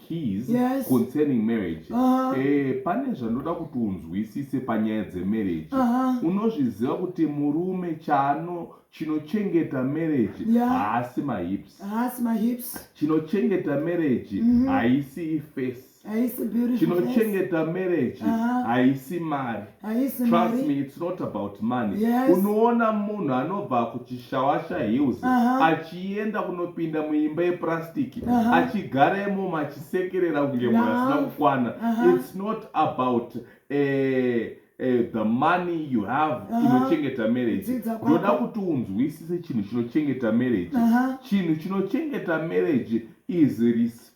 keys yes. concerning marriage uh -huh. e, pane zvandoda kuti unzwisise panyaya dzemarriage uh -huh. unozviziva kuti murume chano chinochengeta marriage haasi yeah. mahips haasi mahips chinochengeta marriage mm -hmm. haisi face chinochengeta marriage haisi uh -huh. mari trust me it's not about money yes. unoona munhu anobva kuchishawasha hills uh -huh. achienda kunopinda muimba yepurastic uh -huh. achigara imomo achisekerera kunge munhu asina kukwana uh -huh. it's not about eh, eh, the money you have uh -huh. inochengeta marriage ndoda kuti unzwisise chinhu chinochengeta marriage uh -huh. chinhu chinochengeta marriage is respect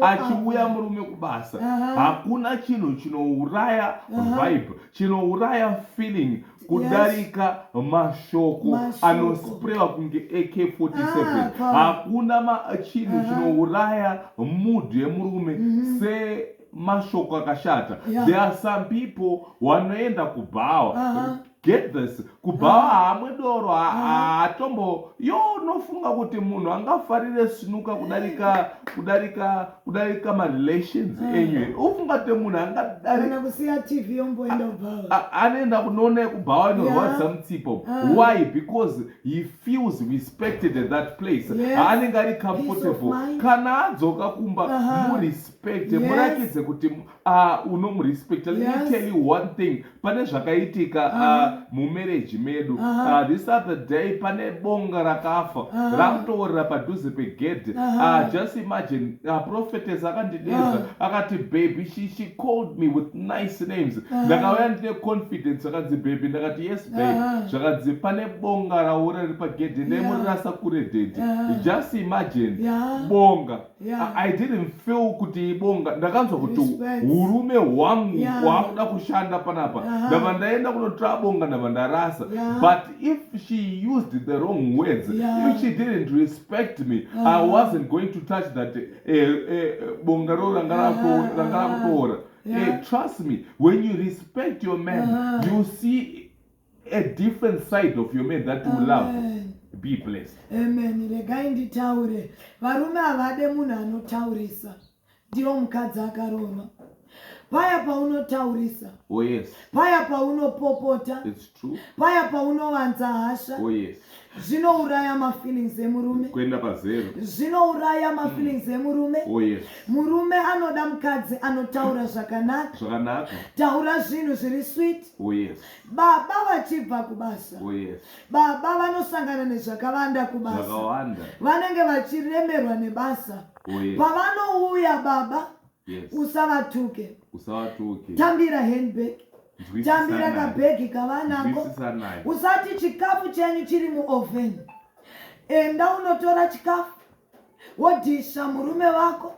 achiuya murume kubasa hakuna chinhu chinouraya vibe chinouraya feeling kudarika mashoko anosprewa kunge ak47 ah, hakuna chinhu chinouraya mood yemurume mhm. se mashoko akashata there are some people wanoenda kubhawa get this kubhawa ah. hamwe doro ah. haatombo yo unofunga kuti munhu angafarire sinuka kudarika kudarika kudarika marelations ah. enyu ufunga kuti munhu angadaanoenda kunoona yekubhawa inorwadza mutsipo why because he feels respected at that place haanenge ari comfortable kana adzoka kumba murespecte murakidze kuti Ah, unomurespecta let yes. me tell you one thing pane zvakaitika uh -huh. uh, mumereji medu uh -huh. uh, this other day pane bonga rakafa uh -huh. rakutoorera padhuze pegedhe uh -huh. uh, just imagine uh, prophetes akandideza uh -huh. akati baby she, she called me with nice names ndakauya uh -huh. ndine confidence akanzi baby ndakati yes babe uh -huh. zvakanzi pane bonga raora riri pagedhe yeah. nemurirasa kure dedi uh -huh. just imagine yeah. bonga yeah. I didn't feel kuti ibonga ndakanzwa kuti urume hwangu yeah. hwakuda kushanda panapa uh -huh. ndava ndaenda kunotora bonga ndava ndarasa yeah. but if she used the wrong words yeah. if she didn't respect me uh -huh. I wasn't going to touch that eh, eh, bonga ro ranga rakutoora uh -huh. yeah. eh, trust me when you respect your man uh -huh. you see a different side of your man that you Amen. love be blessed amen regai nditaure varume havade munhu anotaurisa ndiyo mukadzi akaroma paya paunotaurisa oh yes paya paunopopota it's true paya paunowanza hasha oh yes zvinouraya mafeelings emurume kuenda pazero zvinouraya mafeelings emurume oh yes murume anoda mukadzi anotaura zvakanaka zvakanaka taura zvinhu zviri sweet oh yes Baba vachibva kubasa. Oh yes. Baba vanosangana nezvakawanda kubasa. Zvakawanda. Vanenge vachiremerwa nebasa. Oh yes. Pavanouya baba. Yes. Usavatuke. Usavatuke. Tambira handbag. Tambira kabhegi kavanako. Usati chikafu chenyu chiri muoven. Enda unotora chikafu. Wodhisha murume wako.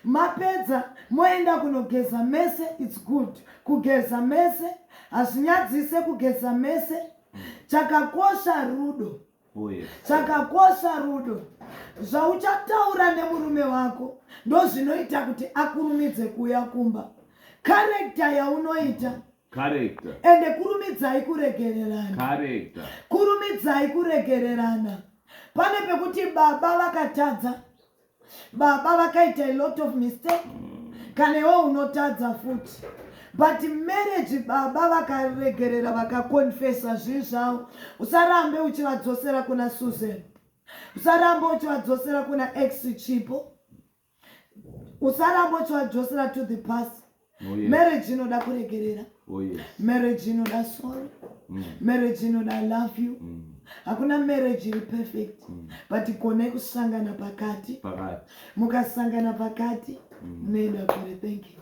Mapedza moenda kunogeza mese its good kugeza mese hazvinyadzise kugeza mese chakakosha rudo Oh, yes. chakakosha rudo zvauchataura nemurume wako ndozvinoita kuti akurumidze kuuya kumba karekta yaunoita Character. ende kurumidzai kuregererana Character. kurumidzai kuregererana pane pekuti baba vakatadza baba vakaita a lot of mistake kana iwe unotadza futi but marriage baba vakaregerera vakakonfesa zvii zvavo usarambe uchivadzosera kuna susan usarambe uchivadzosera kuna ex chipo usarambe uchivadzosera to the past Oh, marriage inoda kuregerera oh, marriage inoda sorry mm. marriage inoda love you mm. hakuna marriage iri perfect mm. but kone kusangana pakati mukasangana pakati munoenda kure thank you